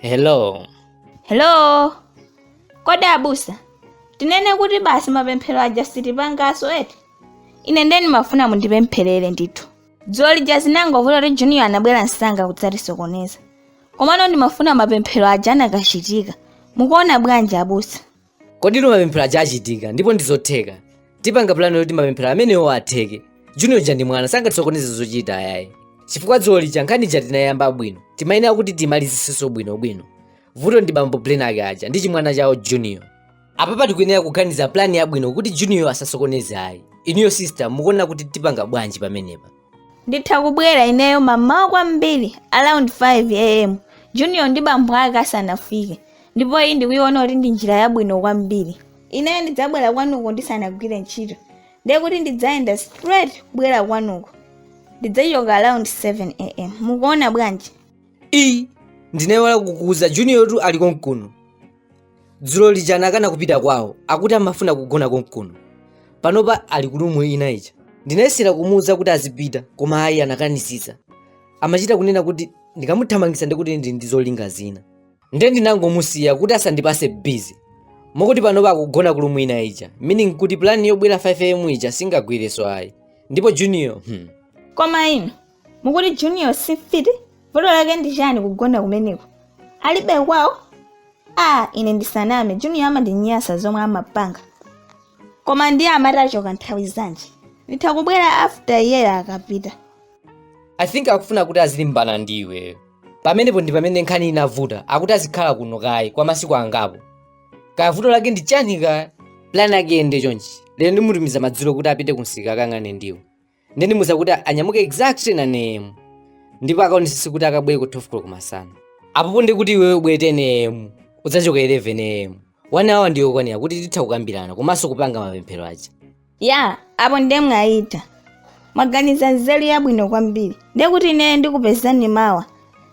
hello hello kodi abusa tinene kuti basi mapemphero aja sitipangaso eti ine nde ndimafuna mundipempherere ndithu dzulo lija zinangovuta kuti junior anabwera msanga kudzatisokoneza komano ndimafuna mapemphero aja anakachitika mukuona bwanji abusa kodi ino mapemphero aja achitika ndipo ndizotheka tipanga pulani yoti mapemphero amenewo atheke junior uja ndi mwana sangatisokoneze zochita ayayi chifukwa dzulo lija nkhani ija tinayamba bwino timayenera kuti timalizisenso bwinobwino vuto ndi bambo blenake aja ndi chimwana chawo junior apapa tikuyenera kuganiza plani yabwino kuti junior asasokoneze ayi inuyo sister mukuona kuti tipanga bwanji pamenepa nditha kubwera ineyo mamawa kwambiri around 5 am junior ndi bambo ake asanafike ndipo iyi ndikuiona kuti ndi njira yabwino kwambiri ineyo ndidzabwera kwanuko ndisanagwire ntchito ndiye kuti ndidzayenda straight kubwera kwanuko ndidzachoka around 7 am mukuona bwanji ii ndinayiwala kukuuza junior tu ali konkuno dzulo lija anakana kupita kwawo akuti amafuna kugona konkuno panopa ali ku room ina ija ndinayesera kumuwuza kuti azipita koma ayi anakanisisa amachita kunena kuti ndikamuthamangisa ndikuti ndili ndi zolinga zina nde ndinangomusiya kuti asandipase busy mokuti panopa akugona ku room ina ija meaning kuti plani yobwera 5 am ija singagwireso ayi ndipo junior hmm. koma inu mukuti junior si mfiti vuto lake ndi chani kugona kumeneko alibe kwawo a ine ndisaname junior amandinyasa zomwe amapanga koma ndiye amati achoka nthawi zanji nditha kubwera after iyeyo akapita i think akufuna kuti azilimbana ndi iweyo pamenepo ndi pamene nkhani inavuta akuti azikhala kuno kaye kwa masiku angapo kaya vuto lake ndi chani kaya plan yake iyende chonchi lero ndimutumiza madzulo kuti apite kumsika akayang'ane ndiwo nde ndimuuza kuti anyamuke exactly 9 am ndipo akaonesese kuti akabwere ku 12 o'clock masana apopo ndi kuti iwewe ubwere 10 am udzachoke 11 am one hour ndi yokwanira kuti titha kukambirana komanso kupanga mapemphero aja ya apo ndiye mwayitha mwaganiza nzeru yabwino kwambiri ndiye kuti ine ndikupezani mawa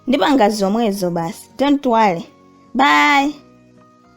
ndipanga zomwezo basi don't worry bye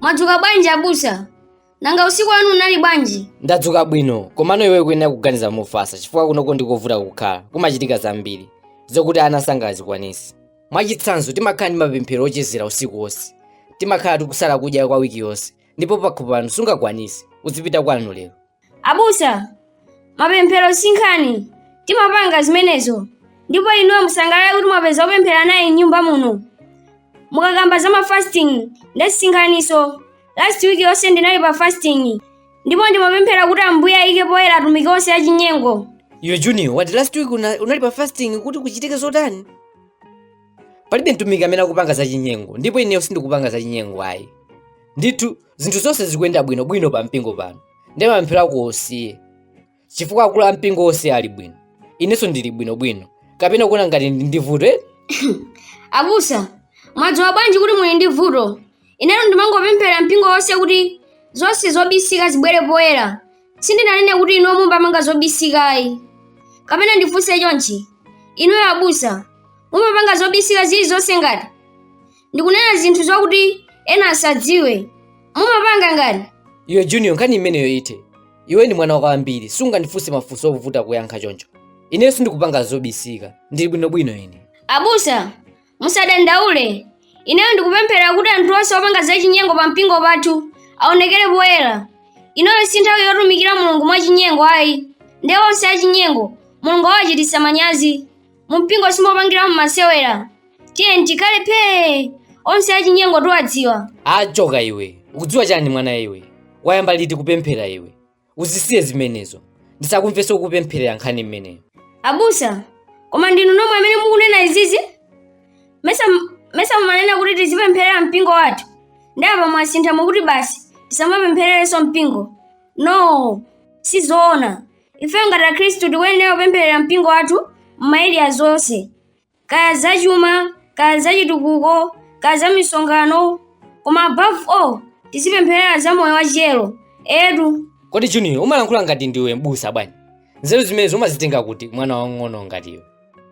mwadzuka bwanji abusa nanga usiku wanu unali bwanji ndadzuka bwino komano iweyo ukuyenera kuganiza mofasa chifukwa kunoko ndikovuta kukhala kumachitika zambiri zokuti ana sangazikwanise mwachitsanzo timakhala ndi mapemphero ochezera usiku wonse timakhala tikusala kudya kwa wiki yonse ndipo pakhomo pano sungakwanise uzipita kwanu lero abusa mapemphero sinkhani timapanga zimenezo ndipo inuyo musangalale kuti mwapeza opemphera naye mnyumba muno mukakamba za mafasting nde sinkhaniso last week yonse ndinali pa fasting ndipo ndimapemphera kuti ambuye ayike poyera atumiki onse achinyengo iwe junior wati last week unali pa fasting kuti kuchitike zotani palibe mtumiki amene akupanga zachinyengo ndipo ineyo sindikupanga zachinyengo ayi ndithu zinthu zonse zikuyenda bwino bwino pa mpingo pano nde mapemphero ako osiye chifukwa akulu a mpingo onse ali bwino inenso ndili bwino bwino kapena ukuona ngati ndili ndi vuto eh? abusa mwadziwa bwanji kuti muli ndi vuto inetu ndimangopempherera mpingo wonse kuti zonse zobisika zibwere poyera sindinanene kuti inuyo mumapanga zobisika ayi kapena ndifunse chonchi inuyo abusa mumapanga zobisika zilizonse ngati ndikunena zinthu zokuti ena asadziwe mumapanga ngati iwe junior nkhani imeneyo ithe iwe ndi mwana kwambiri sungandifunse mafunso ovuta kuyankha choncho ineyo sindikupanga zobisika ndili bwinobwino ine abusa Musadandaule, ineyo ndikupemphera kuti anthu onse opanga zachinyengo pa mpingo pathu aonekere poyera. Inoyo si nthawi yotumikira Mulungu mwachinyengo ayi, nde onse achinyengo Mulungu awachititsa manyazi. Mu mpingo simopangiramo masewera. Tiyeni tikhale phee, onse achinyengo tiwadziwa. Achoka iwe. Ukudziwa chani mwana iwe? Wayamba liti kupemphera iwe? uzisiye zimenezo ndisakumvenso kupempherera nkhani imeneyo abusa koma ndinu nomwe amene mukunena izizi mesa mumanena kuti tizipempherera mpingo wathu nde apa mwasintha mukuti basi tisamapemphererenso mpingo no sizoona ife ngati akhristu tikuyenera kupempherera mpingo wathu m'maeriya zonse kaya zachuma kaya zachitukuko kaya za misonkhano koma above all tizipempherera za moyo wachiyero edu kodi junior umalankhula ngati ndiwe mbusa bwanji nzeru zimenezo umazitenga kuti mwana wang'ono ngati iwe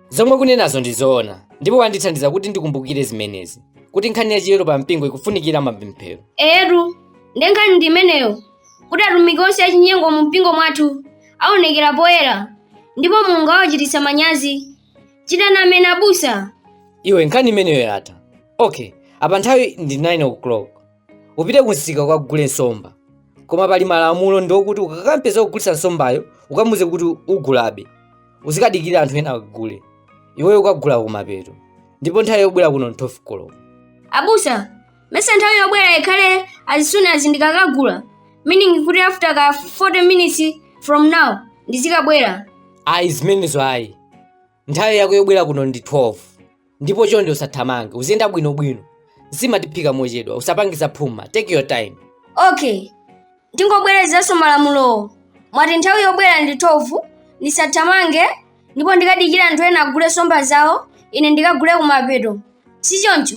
zomwe ukunenazo ndi zoona ndipo wandithandiza kuti ndikumbukire zimenezi kuti nkhani ya chiyero pa mpingo ikufunikira mapemphero etu nde nkhani ndi imeneyo kuti atumiki onse achinyengo mu mpingo mwathu aonekera poyera ndipo mulungu awachititsa manyazi chitani amen abusa iwe nkhani imeneyo yatha okay apa nthawi ndi 9 o'clock upite kumsika ukagule nsomba koma pali malamulo ndi okuti ukakampeza wogulitsa nsombayo ukamuuze kuti ugulabe uzikadikira anthu ena agule iweyo ukagula kumapeto ndipo nthawi yobwera kuno ndi 12 o'clock abusa mesa nthawi yobwera ikhale as soon as ndikakagula meaning kuti after ka 40 minutes from now ndizikabwera ayi zimenezo ayi nthawi yako yobwera kuno ndi 12 ndipo chonde usathamange uziyenda bwinobwino zimatiphika mochedwa usapangiza phuma take your time okay ndingobwerezanso malamulowo mwati nthawi yobwera ndi 12 ndisathamange ndipo ndikadikire anthu ena agule nsomba zawo ine ndikagule kumapeto si choncho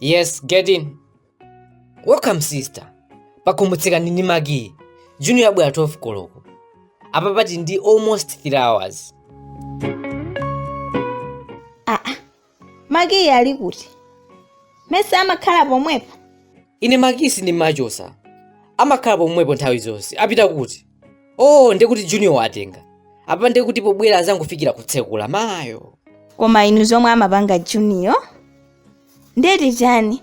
Yes, get in. Welcome sister. Pakumbutsika nini magi? Junior abwera 12 koloko. Apa pati ndi almost 3 hours. makiyi ali kuti mesa amakhala pomwepo ine makiyi sindimachosa amakhala pomwepo nthawi zonse apita kuti oh nde kuti junior watenga apa nde kuti pobwera azangofikira kutsekula mayo koma inu zomwe amapanga junior nde ndi chani